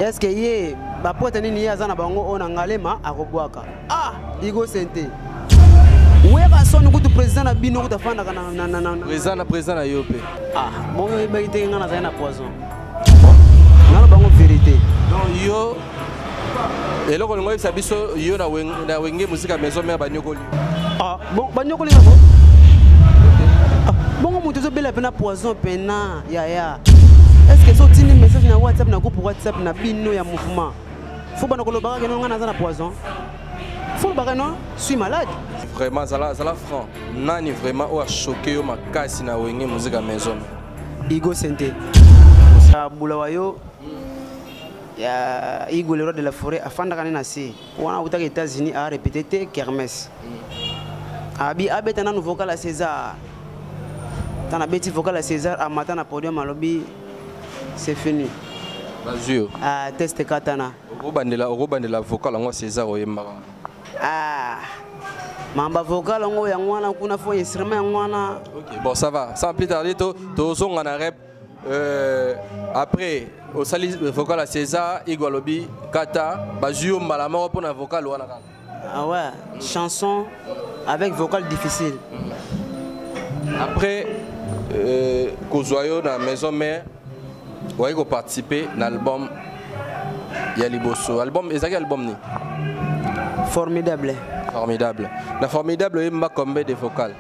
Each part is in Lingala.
eske ye bapote nini ye aza na bango oyo na ngalema akobwaka ah igo sente weka soni kutu président na bino kutu afandaka na président na yo mpe ah bongo oyebaki te ngai nazali na poison nalo bango verite donc yo eloko olingo oyebisa biso yo na wenge mosika maison mare banyokoli ah, bon banyokoli yango ah, bongo moto ezobela mpena poison mpena yaya est ce que so otindi message na whatsapp na groupe whatsapp na bino ya mouvement fo bana kolobaka keno ngai naza na poison fo lobaka no suis malade vraiment zala zala franc nani vraiment oyo achoke yo makasi na wenge muzika maison Igo Sente. Sa bula wa yo ya Igo le roi de la forêt afandaka ne na se wana akutaka États-Unis a répété te kermesse abi abeta nanu vocal ya César tana beti vocal ya César amata na podium alobi c'est fini bazwi yo ah, test katana okobandela okobandela vocal yango César oyembaka Ah, mamba vocal yango yango wana kuna fo instrument yango wana ok bon ça va sans plus tarder to tozonga na rep euh, après osali vocal ya césar igo alobi kata bazwi yo mbala moko mpo na vocal wana kaka ah ouais mm. chanson avec vocal difficile mm. après euh, kozwa yo na maison mère oye ko participer na album ya liboso album ezalaki album nini formidable formidable na formidable oyemba combien de vocal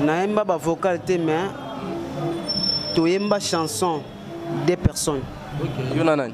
nayemba bavocal te mais toyemba chanson des personnes okay. yo na nani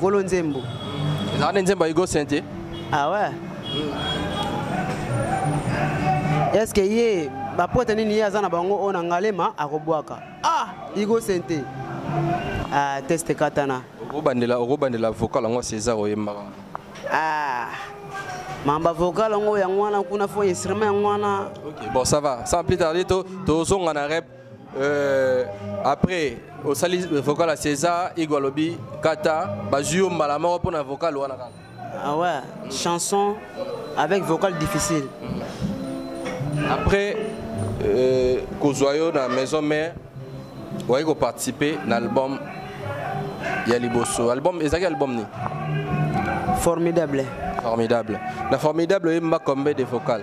Golo Nzembo. Ezalaka nde Nzembo ya Hugo Saint te? Ah ouais. Est-ce que ye bapote nini ye aza na bango oyo na ngalema akobwaka? Ah, Hugo Saint te. Ah, teste katana. Okobandela okobandela vocal yango César oyembaka. Ah. mamba vocal yango yango wana kuna fo instrument yango wana okay, bon ça va sans plus tarder tozonga na rep Euh, après osali vocal ya césar igo alobi kata bazwi yo mbala moko mpo na vocal wana kaka ah ouais mm. chanson avec vocal difficile mm. après euh, kozwa yo na maison mère oye koparticipe na album ya liboso album ezalaki album nini formidable formidable na formidable oyemba combien de vocal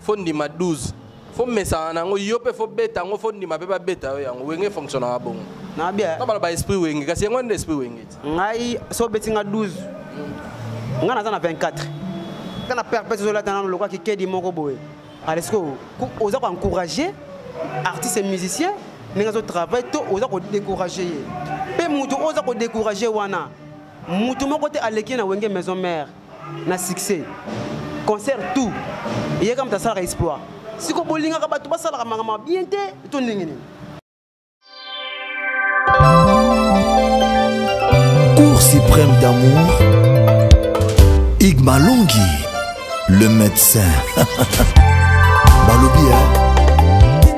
fo ndima 12 fo mesana na yango yo mpe fo beta yango fo ndima mpe babeta yo yango wenge efonctionnaka bongo na bien na baloba esprit wenge kasi yango nde esprit wenge ti ngai so obeti nga 12 ngai naza na 24 nga na père pete ozolata nano lokola kikedi moko boye aleske oza koencourage artiste et musicien ndenge azotravaille to oza kodécourage ye mpe motu oyo oza kodécourage wana motu moko te aleki ye na wenge maison mare na succès concert tout eyaka moto asalaka exploit siko bolingaka bato basalaka makambo bien te to ndenge nini cour suprême d'amour igmalongi le médecin balobi ya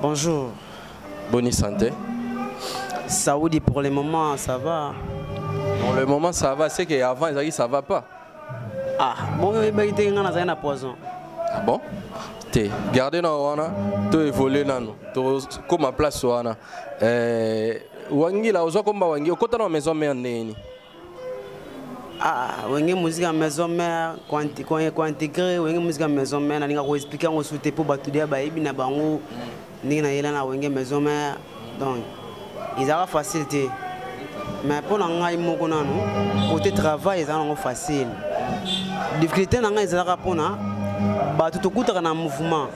Bonjour. Bonne santé. Saoudi pour le moment ça va. Pour le moment ça va, c'est qu'avant ils ça va pas. Ah, bon, il y a un poison. Ah bon te garde na wana to évolue nano tokóma place wana eh, wangila ozwa komba wangi okota na maison mère ndenge nini Ah, wenge musique ya maison mère kointegre wenge musique ya maison mère nalinga koexplike yango su te mpo bato deya bayebi na bango ndenge nayela na wenge maison mère donc ezalaka facile te mais mpo na ngai moko nanu kote travail ezalaka nango facile difficulté na ngai ezalaka mpona bato tokutaka na mouvement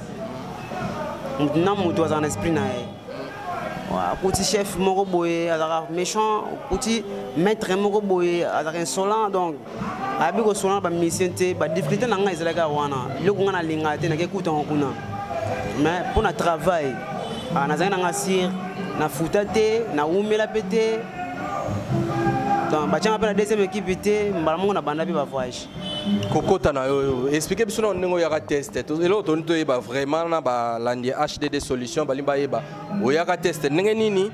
moto na moto azala na esprit na ye akuti chef moko boye azalaka méchant okuti maître moko boye azalaka insolent donc ayebi kosola na bamisien te badifficulté na ngai ezalaki wana biloko ngai nalingaka te nake kutango kuna mais mpo na travail ah, nazalaki na ngai sire nafuta te nawumela mpe te donc batyanga mpe na deuxième équipe te mbala moko na banda mpe bavoyage kokota na yo explike biso na ndenge oyaka test eloko toni toyeba vraiment na balandi ya hdd solution balingi bayeba oyaka test ndenge nini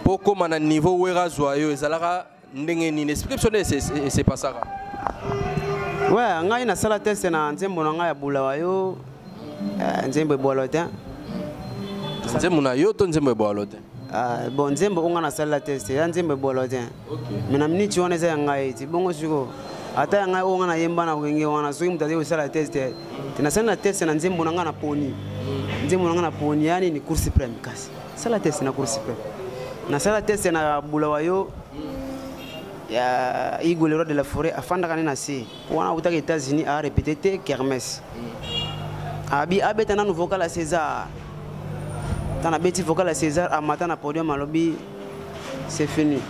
mpo okóma na niveau wera azwa yo ezalaka ndenge nini explike biso nde esepasaka we ngai nasala test na nzembo na ngai ya bulawa yo eh, nzembo ebwalo te nzembo na yo to nzembo ebwalo te Ah, bon nzembo onga nasalela te se ya nzembo ebolo te me na miniti wana eza ya ngai ti bongo siko ata ya ngai onga nayemba na wenge wana soki moto azali kosala test te te nasali na test na nzembo na ngai na poni nzembo na ngai na poni ya nini cour supreme kasi sala test na cour supreme nasala test na bulawa yo ya igolero de la foret afandaka ne na se wana autaka états-unis a répété te kermes abi abeta nanu vocal ya césar ntan abeti vocal ya césar amata na podium alobi c'est fini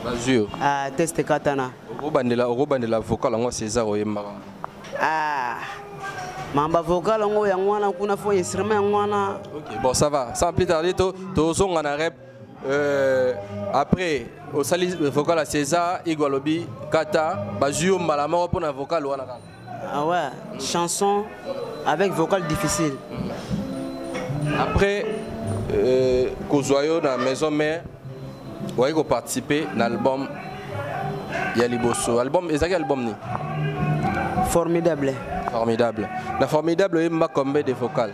bazwi yo ah, test katana okobandela okobandela vocal yango césar oyembaka ah, mamba vocal yango yango wana kuna fo instrument yango wana bon ça va sans plus tarder tozonga na rep Euh, après osali vocal ya césar igo alobi kata bazwi yo mbala moko mpo na vocal wana kaka ah ouais mm. chanson avec vocal difficile mm. après euh, kozwa yo na maison mère okoki koparticipe na album ya liboso album ezalaki album nini formidable formidable na formidable oyemba combien de vocal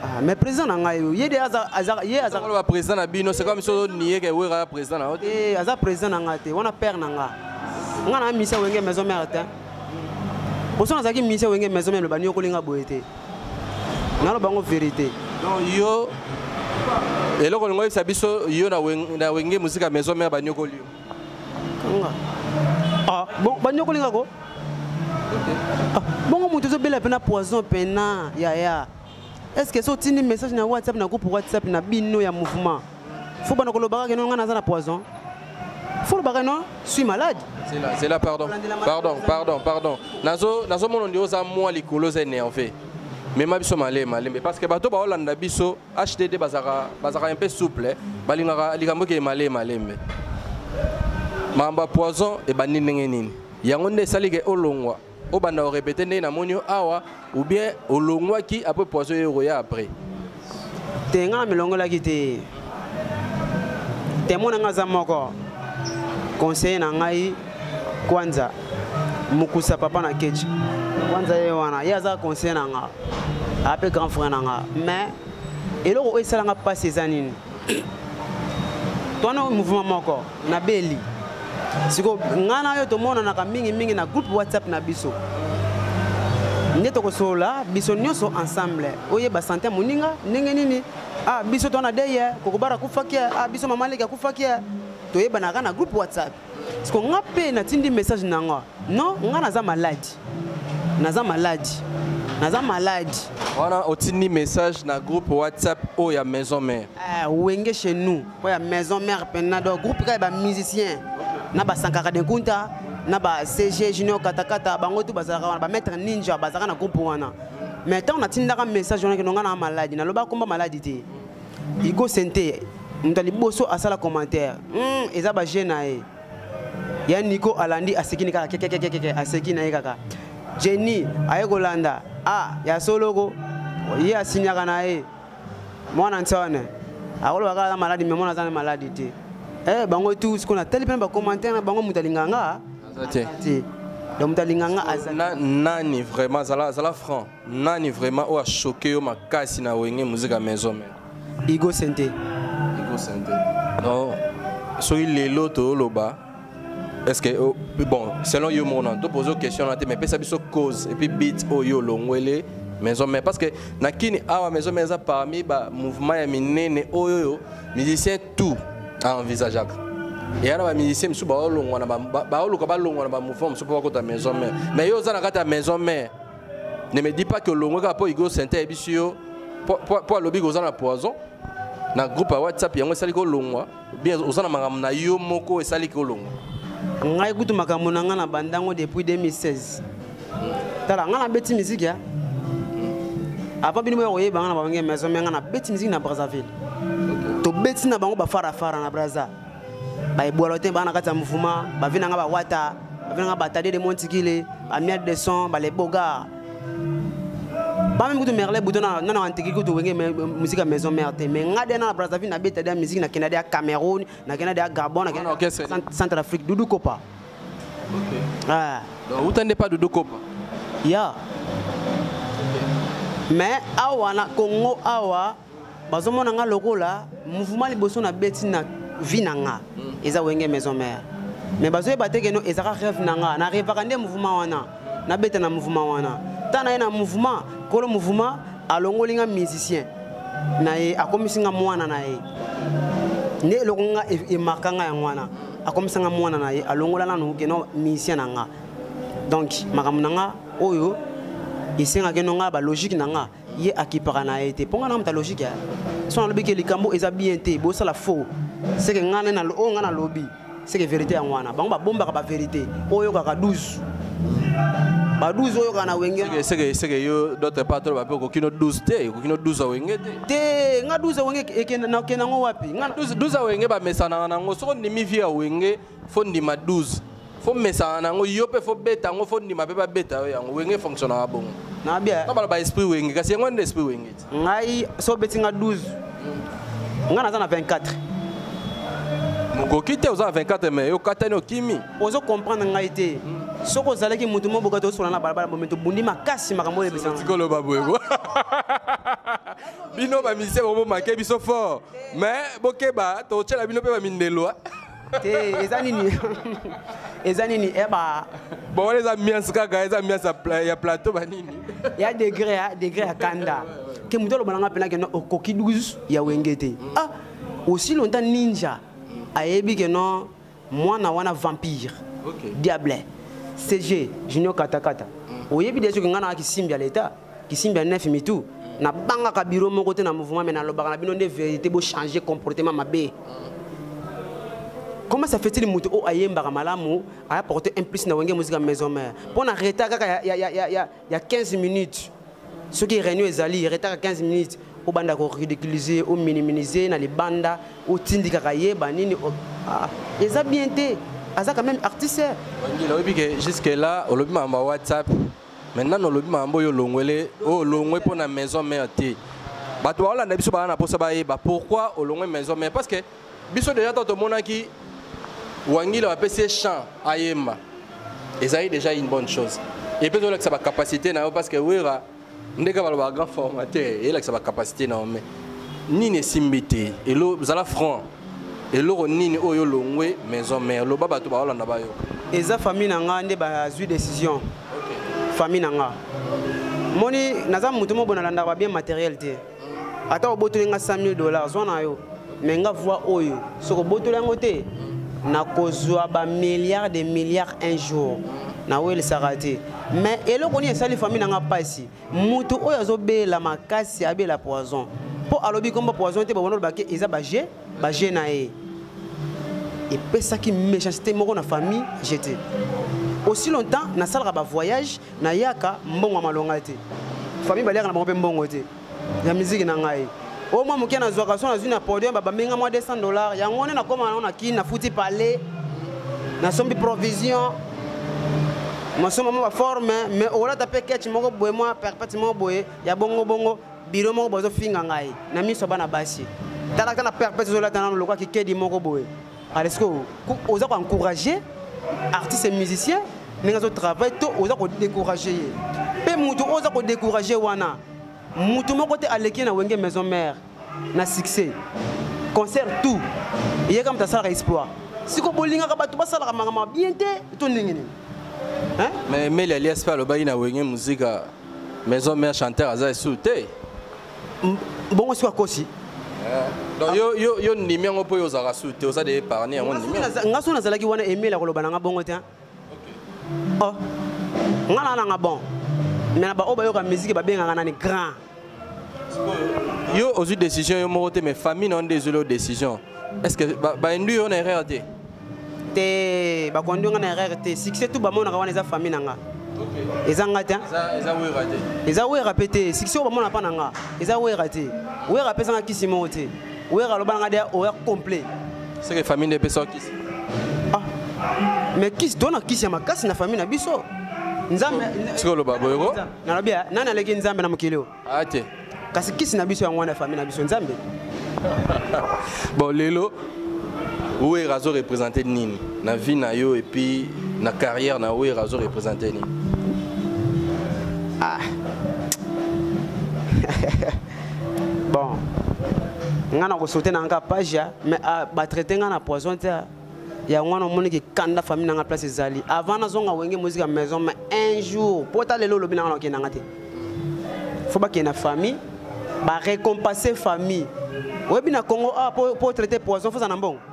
Ah, mais président na ngai yo ye de aza aza ye aza ko président na bino c'est comme so nier que wera président na eh aza président na ngai te wana père na ngai ngai na misa wenge maison mère te boso nazalaki misa wenge maison mère lobani okolinga boye te naloba yango vérité donc yo eloko olingo oyebisa biso yo na wenge mosika maison mère baniokoli yo ah, bon banyokoli nga ko ah, bongo moto ezobela mpena poison mpena yaya est ce que so otindi message na whatsapp na groupe whatsapp na bino ya mouvement fo bana kolobaka keno ngai naza na poison fo olobaka no suis malade zela pardon pardon pardon pardon nazomona nde oza mwa likolo oza énerve mema biso malema lembe parce que bato baolanda biso HDD bazaka bazaka un peu souple eh. balingaka likambo ke male malembe mamba poison et bandi ndenge nini yango nde esali ke olongwa obanda orepete ndenge namoni yo awa ou bien olongwaki après poison ye okoya après te ngai namilongolaki te temo na ngai aza moko conseiller na ngai kwanza mokusa papa na kechi kwanza ye wana ye aza conseiller na ngai ape grand frère na nga mais eloko oyo esalanga mpasi eza nini twana mouvement moko na beli siko ngai na yo tomonanaka mingimingi na groupe whatsapp na biso nde tokosolola biso nyonso ensemble oyeba sante ya moninga ndenge nini ah biso twana deye kokobara akufaki ah biso mama leki akufaki toyebanaka na groupe whatsapp siko nga mpe natindi message na nga non nga naza maladi naza maladi naza maladi wana otindi message na groupe whatsapp oyo oh, ya maison mère eh, wenge chez nous oyo oh, ya maison mère mpena donc groupe kaka ya bamusicien na basankaka de kunta na ba cg junior katakata bango tu bazalaka wana bamaître ninja bazalaka na groupe wana mais ntango natindaka message wana kino nga na maladi naloba komba maladi te Igo Sente moto liboso asala commentaire mm, eza ba jeune na ye ya Nico alandi aseki ni kaka kekekekeke aseki na ye kaka Jenny aye kolanda ah ya soloko ye asinyaka na ye mwana nsone akoloba kaka na maladi me mwana aza na maladi te eh, bango etu sikoyo natali mpe na bacommentaire na bango moto alinganga te donc moto alinganga aza nani vraiment zala, zala franc nani vraiment oyo achoke yo makasi na wenge muzika maison mère igo sente igo sente non soki lelo toyoloba est ce que oh, bon selon yo moko nano topoze question wana te mais pesa biso cause epuis bit oyo olongwele maison mère parce que na kini awa maison mère eza parmi ba mouvement ya minene oyo oyo musicien tout aenvisageaka eya na bamusicien mosusu baolongwa na baoluka balongwa na bamouvement mosusu mpo bakota maison mère mais yo oza na kati ya maison mère ne me dis pas que olongwe kaka mpo igo sente ayebisi yo mpo alobi koza na poison na groupe ya whatsapp yango esali kolongwa bien oza na makambo na yo moko esali kolongwa ngai kutu makambo na ngai na bandango depuis 2016 tala ngai nabeti miziki ya avant bino boya koyeba ngai na babange maison me ngai nabeti miziki na brazzaville tobeti na bango bafarafara na brazza baebwalo te baa na kati ya mouvement bavi na nga bawata bavi na nga batade de montikile bamiade de son baleboga bamemi kutu merle buto nana antiki kutu wenge musika maison mare te mais nga de na na brazzaville nabeta de ya musiki nakenda de ya cameroun nakenda de ya gabon nakenda centre afrique dudu kopa ah. uta nde pa dudu kopa ya mais awa na congo awa bazomona nga lokola mouvement liboso na beti na vie na nga mm. eza wenge maison mère mais bazoyeba te keno ezaka rêve na nga na revaka nde mouvement wana nabeta na mouvement wana ta na ye na mouvement kolo mouvement alongoli nga musicien na ye akomisi nga mwana na ye nde eloko nga e, emarka nga yango wana akomisa nga mwana na ye alongola nanu keno musicien na nga donc makambo na nga oyo esengaki no nga balogique na nga ye akipaka na ye te mpo ngai namuta logike ya so nalobi ke likambo eza bien te bosala faux seke ngai na oyo ngai nalobi seke verité yango wana bango babombaka baverité oyo oyokaka 12 ba 12 oyo kana wenge seke seke yo d'autre part to bape okoki no 12 te okoki no 12 wenge te te nga 12 wenge ekenda na kenda ngo wapi nga 12 wenge ba mesana na ngo soko ndimi vie ya wenge fo ndima 12 fo mesana na yango yo mpe fo beta yango fo ndima mpe babeta yo yango wenge efonctionnaka bongo nabaloba esprit wenge kasi yango nde esprit wenge ti ngai so obeti nga 12 ngai naza na 24 mokoki te oza na 24 mai okatani okimi ozo comprendre ngai te hmm. soki ozalaki motu mo boka tosola na balabala bomi tobundi makasi makambo oyo ebisatikoloba boyeko bino bamisie bomomake biso fort mais bokeba totyela bino mpe bamindelo te eza nini eza nini eba eh, bon wana eza miance kaka eza miance ya plateau banini ya degre ya degre ya kanda ke moto aloba nanga mpena keno okoki 12 ya wenge te ah aussi longtemps ninja ayebi keno mwana wana vampire okay. diable cg junior katakata oyebi deja oke ngai nanga kisimbi ya leta kisimbi ya nef mitu nabangaka biro moko te na mouvement me nalobaka na bino nde verité bochange comportement mabe comment ça fait-il moto oyo ayembaka malamu aya porte un plus na wenge mosika maison mare mpo na retard kaka ya, ya, ya, ya, ya 15 minutes soki réunion ezali retard ya 15 minutes obanda koridiculise ominimize na libanda otindikaka ye banini ah, eza bien te aza quand même artiste wangila oyebi ke jusque là olobi makambo ya whatsapp mais nano olobi makambo oyo olongwele oyo olongwe mpo na maison mère te bato baolanda biso baa na mposa bayeba pourquoi olongwe maison mère parce que biso deja ntango tomonaki wangila bapesi ye champ ayemba ezali déjà une bonne chose epe ezolakisa bacapacité na yo parce que wera ndenge balobaka grand formateur eyelakisa bacapacité na yo mais nini esimbi te elo zala franc eloko nini oyo olongwe maison mère loba bato baolanda bayoka eza famille na nga nde bazwi décision famille na nga moni naza moto moko nalandaka babien matériel te ata obotoli nga 100 000 dollars zwa na yo me nga voi oyo soki obotoli yango te nakozwa bamilliard de milliard un jour nawelisaka te mais eloko nini esali famille na nga mpasi mutu oyo azobela makasi abela poison mpo alobi kombo poison te babona olobaki eza baje baje na ye epesaki méchanceté moko na famille jete aussi longtemps nasalaka bavoyage nayaka mbongo ya malonga te famille baliaka na bango mpe mbongo te ya miziki na ngai oyo mwa moke nazwaka so nazwi na podium babambi nga mwa 200 dollar yango nde nakoma nango na kini nafuti palais nasombi provision masomba mwa baforme mais okolata mpe ketch moko boye mwa perpète moko boye ya bongobongo biro moko bazofinga ngai na miso ya bana basi talaka na perpète ezolata nano lokola kikedi moko boye aleske oza koencourage artiste musicien ndenge azotravaille to oza kodécourage ye mpe moto oyo oza kodécourage wana mutu moko te aleki na wenge maison mère na succès concert tout ye kaka moto asalaka exploit siko bolingaka bato basalaka makambo bien te to ndenge nini mais meli alias mpe alobaki na wenge muzika maison mère chanteur aza esu te bongo siko akosi donc yo yo yo ndimi yango mpo yo ozalaka su te oza de épargne yango ndimi nga so nazalaki wana emile akoloba na nga bongo te oh nga na nanga bon mais na baoyo bayoka miziki babengaka nani grand yo ozwi décision yo moko te mais famille na yo nde ezweli yo décision est ce que bainduire yo na erreur te te bakondi nga na erreur te succès tout bamonaka wana eza famille na nga eza nga te eza wera mpe te succès oyo bamona mpa na nga eza wera te wera apesanga kisi moko te Werra loba nga dia oya complet. C'est que famille ne peut pas kiss. Ah. Mais kiss dona kiss ya makasi na famille na biso. Nzambe siko loba boyoko. Na lobi nana leki Nzambe na mokili yo. Ah te. Kasi kiss na biso ya ngwana famille na biso Nzambe. bon lelo Werra azo représenter nini na vie na yo et puis na carrière na Werra azo représenter nini? Ah. bon nga na kosote na nga page ya mais ah, batraite nga na poison te yango wana omoni kikanda famille na nga place ezali avant nazonga wenge mozika maison mais un jour mpo ta lelo olobi na nga na okende na nga te fo bakende na famille barécompense famille oyebi na congo awa ah, mpo traite poison foza na mbongo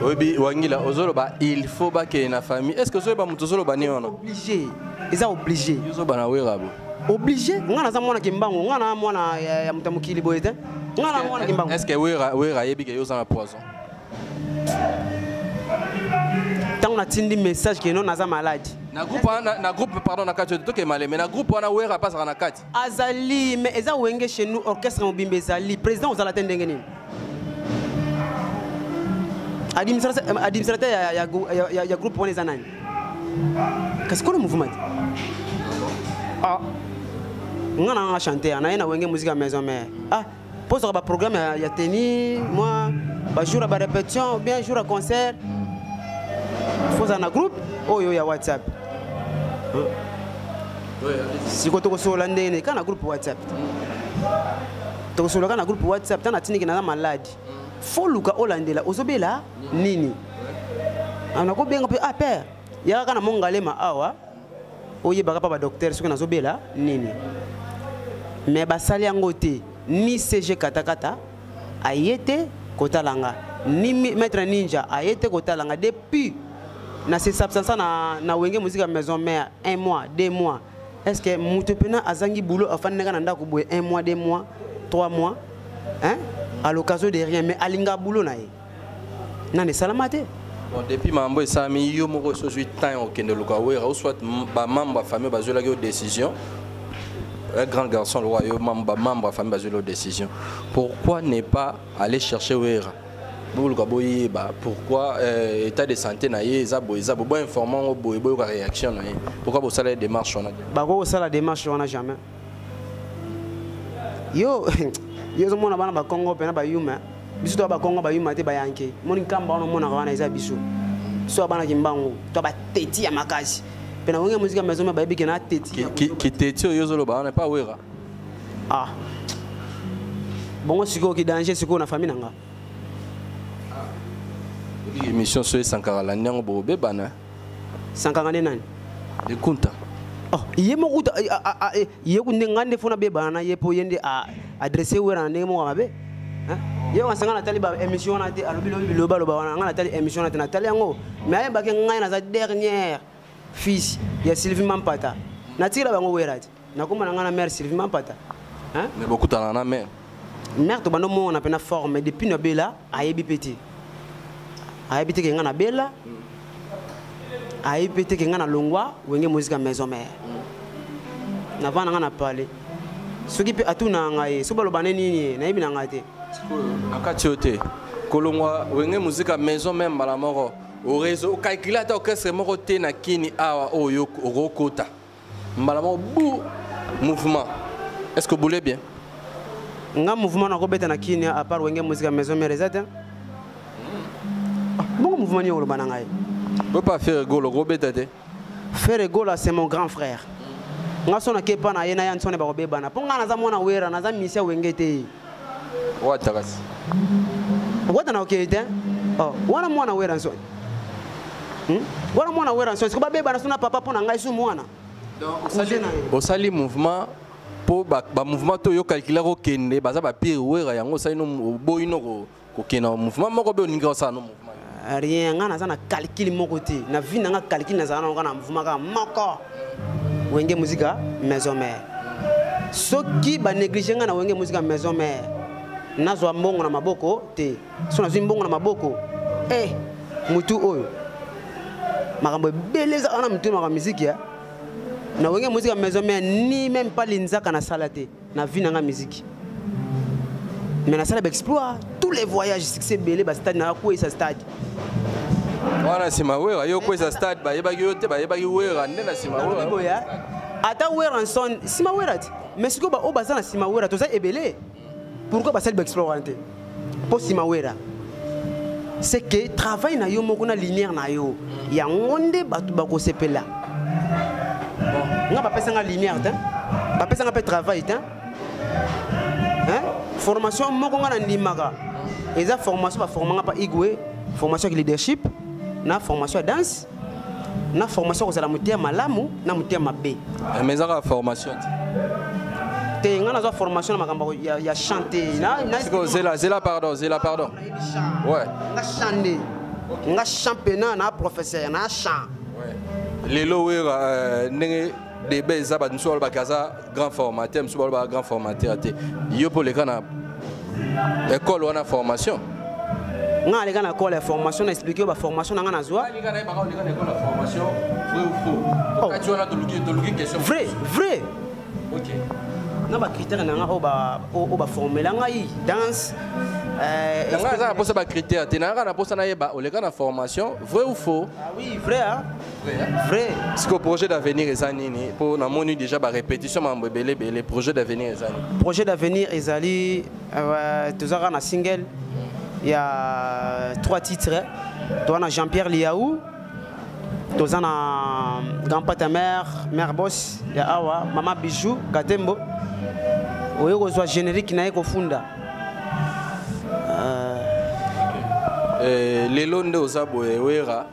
oyebi wangila ozoloba il faut bakende na famille est ce que ozoyeba moto ozoloba nini wana oblige eza oblige ozoba na werabo oblige ngai naza mwana kimbangu ngai na mwana ya moto ya mokili boye te ngai na mwana kimbangu est ce que wera ayebi ke yo oza na poison ntango natindi message keno naza maladi na groupe wana na groupe pardon na kati tokemale mais na groupe wana wera apasaka na kati azali mais eza wenge chez nous orchestre mobimba ezali président ozala te ndenge nini administrateur ya, ya, ya, ya, ya groupe wana eza nani kasi kolo mouvement te ah. nga na nga chanter na ye na wenge musique ya maison mère ah mpo ozwaka baprogramme ya, ya teni mwa bajour ya barepetition bien jour ya concert fo ozala na groupe oyo ya whatsapp siko tokosolola ndenge nini kaka na groupe whatsapp tokosolola kaka na groupe whatsapp ntango natindiki naza maladi fo luka olandela ozobela nini nakobenga mpe ah père yaka kaka na mongalema awa oyebaka mpa badoktere soki nazobela nini me basali yango te ni cg katakata aye te kotala nga ni maître ninja aye te kotala nga depuis na se substansa na, na wenge mozika maison mère un mois deux mois est ce que moto mpena azangi boulot afandaka na ndako boye un mois deux mois trois mois hein? à l'occasion de rien mais alinga boulot na ye nani esalama te bon depuis makambo esalami yo moko osi ozwi temps ya kokende luka wera ou soit bamembre ya famille bazwelaki yo décision un grand garçon lokola yo bamembre ya famille bazweli yo décision pourquoi ne pas aller chercher wera boluka boyeba pourquoi euh, état de santé na ye eza boye eza boye boinforme yango boye boyoka réaction na ye pourquoi bosala ye démarche wana bakoki kosala démarche wana jamais yo yo ozomona bana bakongo mpena bayuma biso toya bakongo bayuma te bayanke moni nkamba wana omonaka wana eza biso biso ya bana kimbangu to bateti ya makasi mpe na wenge mozika maison bayebi ke na teti kiteti oyo ozoloba wana epa wera ah bongo sikoyo kidanger sikoyo na famille na nga ah. émission soyo esankarala nyango bobebana sankanga nde nani de kunta oh, ye moko kuta eh, ah, ah, ah, eh, ye nde ngai nde fo nabebana na ye mpo ye nde adresse wera na ndenge moko ya mabe ye wana sanga natali ba émission wana te alobi lobi biloba loba wana ngai natali émission wana te natali yango mais ayebaki ngai naza dernière fils ya sylvie mampata natikela bango wera te nakoma na ngai na mare sylvie mampata mais bokutana na mare mare tobanda omona mpe na forme depuis na bela ayebi mpe te ayebi te ke ngai na bela mm. ayebi mpe te ke ngai na longwa wenge mozika maison mare mm. navanda ngai na pale soki mpe atuna ngai soki baloba nde nini nayebi na ngai te na kati oyo te kolongwa wenge mozika maison mare mbala moko orezo okalkile ata orchestre moko te na kini awa oyo okokota mbala moko bu mouvement est ce que obule bien nga mouvement nakobeta na kini à part wenge musique ya maison mère eza te ah, bongo mouvement nini oloba na ngai oyo pa fere golo okobeta te fere gola c'est mon grand frère nga so nakepa na ye na ya nsone bakobebana mpo nga naza mwana wera naza misia wenge te wata kasi wata na okei te oh, wana mwana wera nsoni hmm? wana mwana wera nsoni siko babebana suna papa mpo na ngai su mwana osali mouvement mpo bamouvement to yo calcula kokende baza bapire wera yango osali no oboyi noko kokende na mouvement moko be olingi kosala no mouvement ah, rien ngai naza na calcule moko te na vie na ngai calcule nazala nango na mouvement kaka moko wenge muzika maison mare soki banéglige ngai na wenge muzika maison mare nazwa mbongo na maboko te so nazwi mbongo na maboko e eh, motu oyo makambo ebele ezaka na motu na makambo miziki ya na wenge muzika maison mare ni meme pas linzaka nasala te na vie nanga musique mais nasala baexploit tous les voyages succès ebele bastade naya kweyisa stade wana nsima wera yo kweyisa stade bayebaki yo te bayebaki wera nde na nsima wera ata wera nson nsima wera te mais sikoyo baoyo baza na nsima wera toza ebele pourquoi basali baexploit wana te mpo nsima wera c'est que travail na yo moko na lumière na yo yango nde bato bakosepela nga bapesanga lumière te bapesanga mpe travail te formation moko nga nandimaka eza formation baformanga mpa igwe formation ya leadership na formation ya danse na formation kozala moteya malamu na moteya mabe eh, mais ezaka formation te ngai nazwa formation na makambo ya, ya chante zela zela pardon zela pardon ouais. nga chante nga championnat na professeur na chant lelo wera euh, ndenge deba eza bato mosusu balobaka aza grand formateur mosusu balobaka grand formateur te yo mpo oleka na ekole wana formation nga aleka na ekole ya formation na explike yo baformation na nga nazwa oh. vrai vrai na bacritère na nga oyo baformela ngai danse euh, yanga aza na mposa bacritère te nayaka na mposa nayeba oleka na formation vrai ou faux ah oui vrai vrai sikoyo projet d'avenir eza nini mpo namoni déjà barépétition makambo ebele ebele projet d'avenir eza nini projet d'avenir ezali euh, toza kaka na single ya trois titres toza na jean pierre liaou toza na grand pata mare mare bos ya awa mama bijou katembo oyo kozwa générique na ye kofunda euh, eh, lelo nde oza boye wera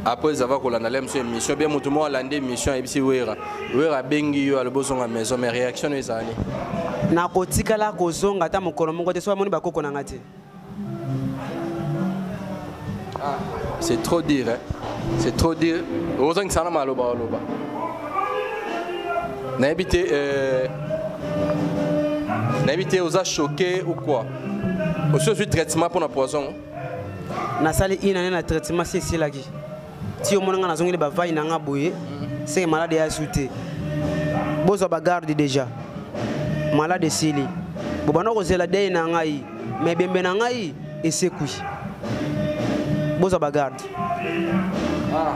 après ça va kolanda lem sur émission bien moto moko alandi émission ayebisi wera wera abengi yo alobi ozonga maison mais réaction oyo ezali nakotikala kozonga ata mokolo moko te so amoni bakoko na nga te ah, c'est trop dire hein? c'est trop dire ozongisa na maloba oloba nayebi te euh, nayebi te oza choqué ou quoi osi ozwi traitement mpo na poison nasali une année na traitement si esilaki ti omona ngai nazongeli bavai na ngai boye seke malade ya su te bozwa bagarde déjà malade esili bobanda kozela dei na ngai ma ebembe na ngai esekwi bozwa bagarde ah.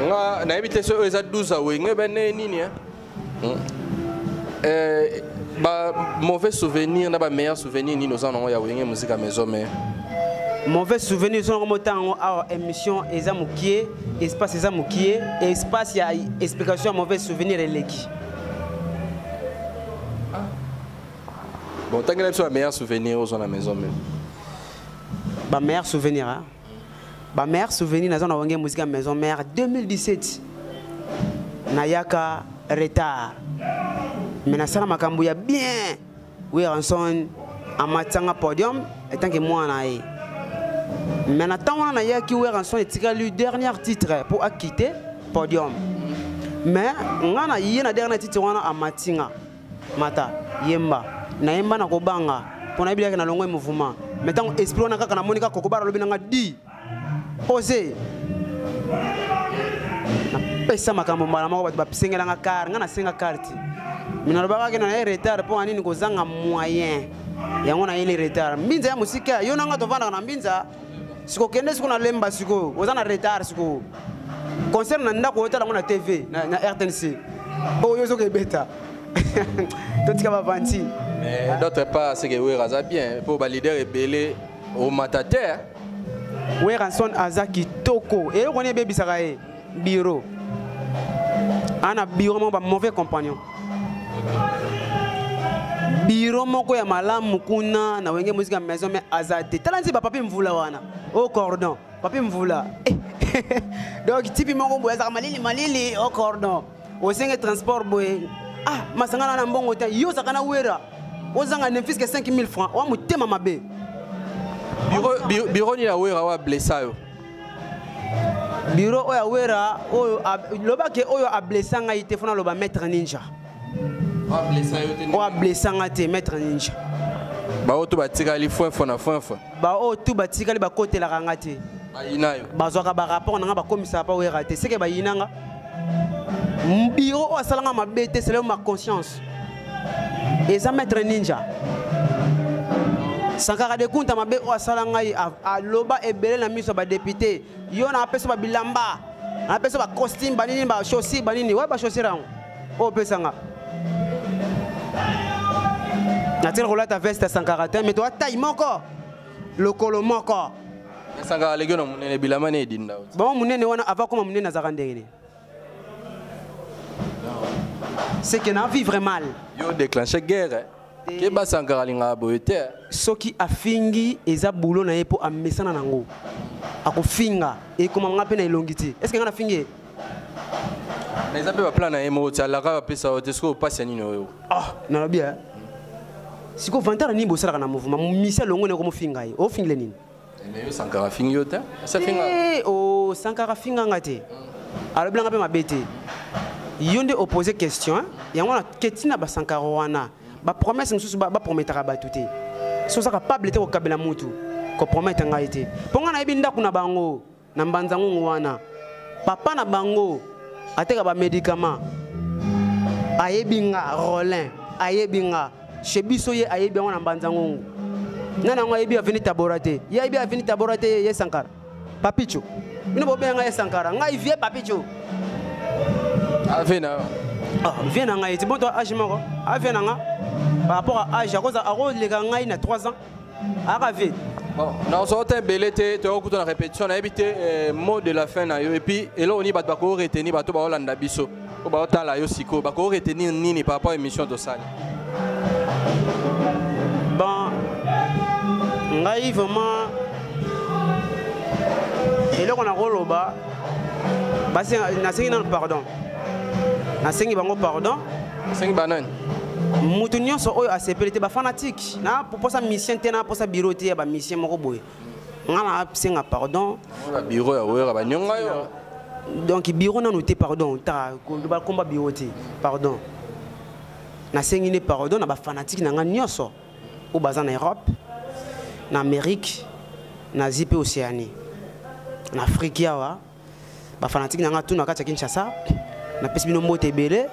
nga nayebi te soki oyo eza 12 awenge bene nini eh? Hmm. Eh, ba mauvais souvenir na ba meilleur souvenir nini oza nango ya wenge muzika maison mère mauvais souvenir oza nango motanga yango awa émission eza mokie espace eza mokie espace ya explication ya mauvais souvenir eleki ah. bon otangela biso ba meilleur souvenir oza na maison mère ba meilleur souvenir hein? ba mère souvenir naza na wange musique ya maison mère 2017 nayaka retard me nasala makambo ya bien weranson amatisanga podium etanke mwana na ye me na ntango wana nayaki weranson etikali dernier titre mpo akite podium me ngai na ye na dernier titre wana amati nga mata yemba nayemba na kobanga mpo nayebi yake na longo ye mouvement mai ntango esprit wana kaka namoni kaka kokobara alobi nanga di ose napesa makambo mbala moko bato basengelanga kar ngai nasenga karte mi nalobaka kena naye retard mpo anini kozanga moyen yango nayeli retard mbinza ya mosika yo nanga tovandaka na mbinza siko kende siko na lemba sikoyo oza na retard sikoyo concert na ndako oyotala yango na tv na, na rtnc oyo oh, ozoka ebeta totika bavanti mais d'autre part seke wera aza bien mpo baleader ebele omata te weranson aza kitoko eloko nini ebebisaka ye bureau ana bureau moko ba mauvais compagnon bureau moko ya malamu kuna na wenge mosika maison mais aza te tala nzi bapapi mvula wana o oh, cordon papi mvula eh, donc tipi moko boye azalaka malili malili o oh, cordon osenge transport boye ah masangana na mbongo te yo ozalaka na wera ozanga ne fiske 5000 francs oa motema mabe biro nini ya wera oa blessa yo biro oyo awera oyo loba ke oyo ablessa ngai te fona loba maître ninja oyo ablessa nga te maître ninja baoyo to batikali fwefwe na fwefwe baoyo tu batikali bakotelaka nga te bazwaka barapport na nga bakomisaka pa wera te seke bayina nga biro oyo asalanga mabe te seleo ma conscience eza maître ninja sankara de kunta mabe oyo asala ngai aloba ebele na miso ya badepute yo na apesa babilamba na apesa bacostume banini bachaussure banini oyo bachaussure yango oyo opesa nga natikala kolata veste ya sankara te me toa tai moko lokolo moko sankara aleki na monene bilamba ne edinda bango monene wana avakoma monene azalaka ndenge nini c'est que na vivre mal yo déclencher guerre hein? keba sankara alingaka boye te soki afingi eza bulo na ye mpo amesana nango akofinga ekoma nga mpe na elongi te estce nga nafingi ye mais eza mpe baplan na ye moko ti alaka bapesa yo te soki opasi ya nini oyo ah nalobi e eh. sikoyo vantara nini bosalaka na mouvement misia longo na yoko mofinga ye ofingile nini Mais yo Sankara fingi yo te? Ça finga. Eh, oh Sankara finga nga te. Alors blanga pe mabe te. Yo nde opposer question, hein? yango na ketina ba Sankara wana. Ba promesse mususu ba, ba prometaka batu te. So saka pable te ko kabela mutu. Ko promettre ngai te. Ponga na yebi ndaku na bango. na mbanza ngungu wana papa na bango ateka bamedikama ayebi nga rolin ayebi nga chez biso ye ayebi yango na mbanza ngungu nani yango ayebi aveni tabora te ye ayebi aveni tabora te ye sankara papicho bino bobenga ngai ye sankara ngai vie papicho avena ah, vie na ngai ti boto age moko avena nga par rapport à age akoleka ngai na 3 ans aka vie bon nakozwa ota ebele te toyoko kuta na répétition nayebi te eh, mot de la fin na yo epuis eloko nini bato bakoki retenir bato baolanda biso oyo baotala yo sikoyo bakoki retenir nini par rapport émission tosali bon ngai vraiment eloko nakoloba nasengi nano pardon nasengi bango pardon nasengi banani moto nyonso oyo asepeli te bafanatike na posa mission te na posa bureau te ya ba mission moko boye nga na senga pardon bureau ya wera ba nyonga yo donc bureau na noté pardon ta ko ba combat bureau te pardon na sengi ne pardon na ba fanatique na nga nyoso au bazan na Europe na Amérique na Asie pe Océanie na Afrique yawa ba fanatique na nga tout na kati ya Kinshasa na pesi bino mbote ebele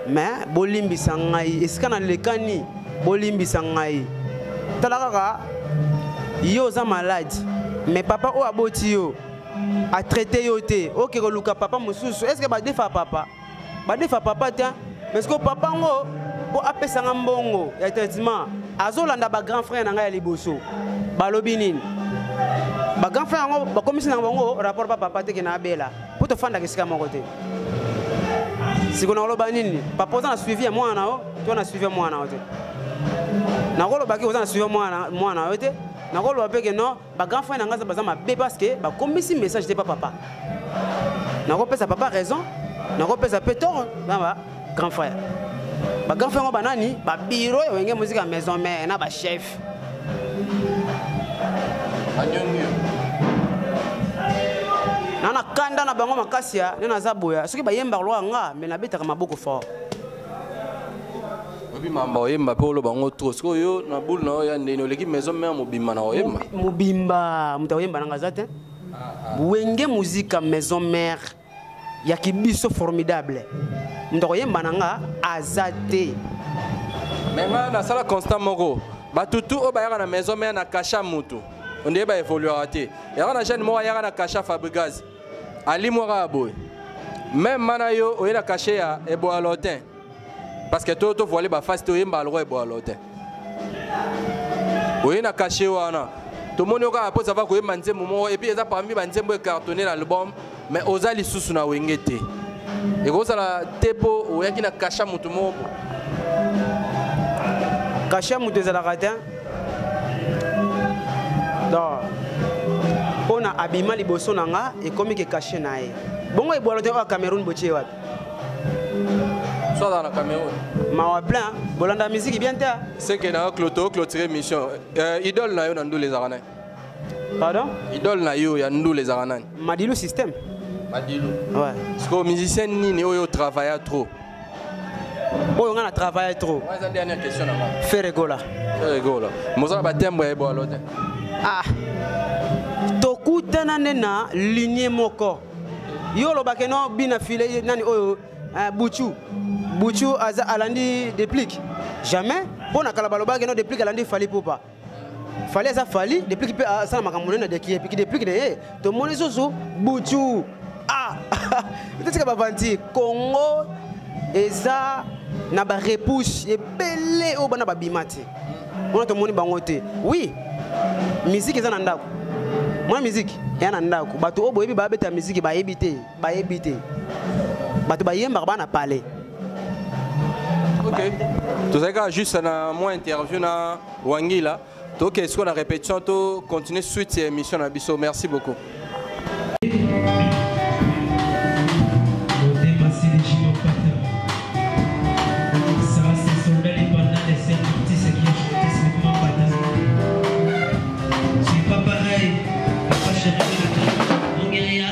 mais bolimbisa ngai esika na lekani bolimbisa ngai tala kaka yo oza malade mais papa oyo aboti yo atraite yo te oke koluka papa mosusu estce badefaka papa badefa papa te mais sikoyo papa ngo mpo apesanga mbongo ya traitement azolanda bagrand frère na ngai ya liboso balobi nini bagrand frère yango bakomisi na bango rapport pa papa teke na abela mpo tofandaka esika moko te siko nakoloba nini papa oza na suivi ya mwana na yo to na suivi ya mwana na yo te nakolobaki oza na suivi ya mwana na yo te nakoloba mpe ke non ba grand frère na ngai baza mabe parce que bakomisi message te pa papa nakopesa papa raison nakopesa mpe toro na ba grand frère ba grand frère yango banani babiro ya wenge mozika ya maison mare na bachef na na kanda na bango makasi ya nde naza boya soki bayembaka loka nga me nabetaka maboko fort oyebi mamba oyemba mpe oloba yango trop sikoyo yo na bule na yo ya ndeni oleki maison mare mobimba na oyemba mobimba moto akoyemba nanga aza te ah, ah. wenge muzika maison mare ya kibiso formidable moto akoyemba na nga aza te me nga nasala constat moko batutu oyo bayaka na maison mare na kasha motu ondeye baevoluaka te yaka na jeune moko ayaka na kasha fabrigase Ali mwaka ya boye. Même mana yo oye na cachet ya eboa lotin. Parce que to to voile ba face to yemba algo eboa lotin. Oye na cachet wana. tomoni yo kaka mposa va koyemba nzembo moko epuis eza parmi banzembo ecartonne na album mais oza lisusu na wenge te ekozala te mpo oyaki na kasha moto moko kasha moto ezalaka te donc mpo na abima liboso na nga ekomi ke kashe na ye bongo ebwalo te oyo cameroun botie wapi soaza na cameroun mawa plein bolanda miziki bien te seke na yo cloto clotire mission euh, idole na yo na ndule ezalaka naye Pardon Idole na yo ya ndule ezalaka nani Madilu système Madilu Ouais Siko musicien nini oyo travailla trop oyo nga na travaille trop eza dernière question na nga ferre gola ferre gola mozala batembre ya ebwalo te ah tokutana nde na linie moko yo olobake no bina file nani oyo eh, buchu buchu aza alandi deplique jamais mpo na kala balobaki no deplique alandi fali pupa fali aza fali deplic mpe asala makambo nene adekie piki deplic na ye tomoni susu butu ah totika bavanti congo eza na barepouche ebele oyo bana babima te wana tomoni bango te oui miziki eza na ndako mwa miziki eya na ndako bato oyo boyebi babeta miziki bayebi te bayebi te bato bayembaka bana palais ok tozali kaka juste na mwa interview na wangila tokende sikoyo na répétition to continuer suite ya émission na biso merci beaucoup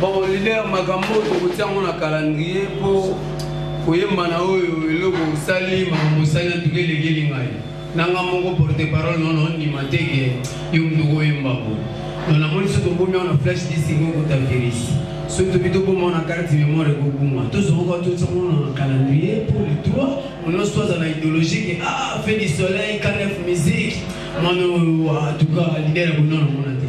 bon leader makambo oyo tokotia yango na calendrier mpo koyemba na oyo eloko osali makambo osali na ntuka elekeli ngai nanga moko porte parole nono ndima te ke yo moto koyemba bo no namoni so tobomi awa na flash disingo kota virus so tobi toboma na carte mémoire ekobuma tozongoka totiango na calendrier mpo le 3 onoso aza na idéologie ke ah fait du soleil canef musique mwana oyo atuka lider ya bonona mona te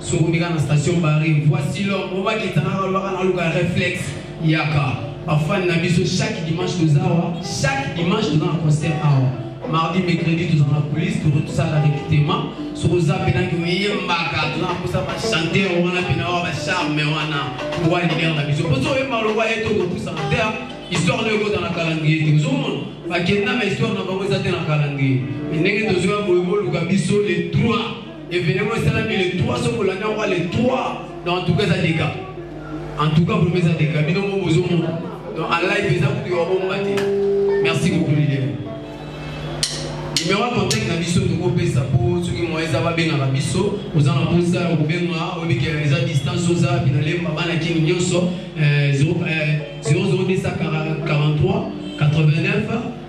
Soko meka na station Barre, voici l'homme. Oba kitana na lwaka na luka reflexe. Yaka. Bafani na biso chaque dimanche tozawa, chaque dimanche toza na concert awa. Mardi, mercredi toza na police, toro tosala recrutement. Soko za pena ki oyembaka, toza na posa ba chanteur wana pena wa ba charme wana. Wa leader na biso. Poso oyemba loba eto ko posa na terre. Histoire de kota na calendrier te. Ozomona? Bakenda na histoire na bango eza te na calendrier. Ndenge tozoya boye boluka biso le 3 Événement esalami le 3 soki olandi yango le 3 donc en tout cas eza dega en tout cas vraimen eza dega bino ngo bozomona donc en live eza kutu yobomba te merci beaucoup lilian numero ya contact na biso tokopesa mpo soki moyen eza babengaka biso oza na mposa ya kobenga oyebike eza distance oza wapi na lemba bana kini nyonso 00243 89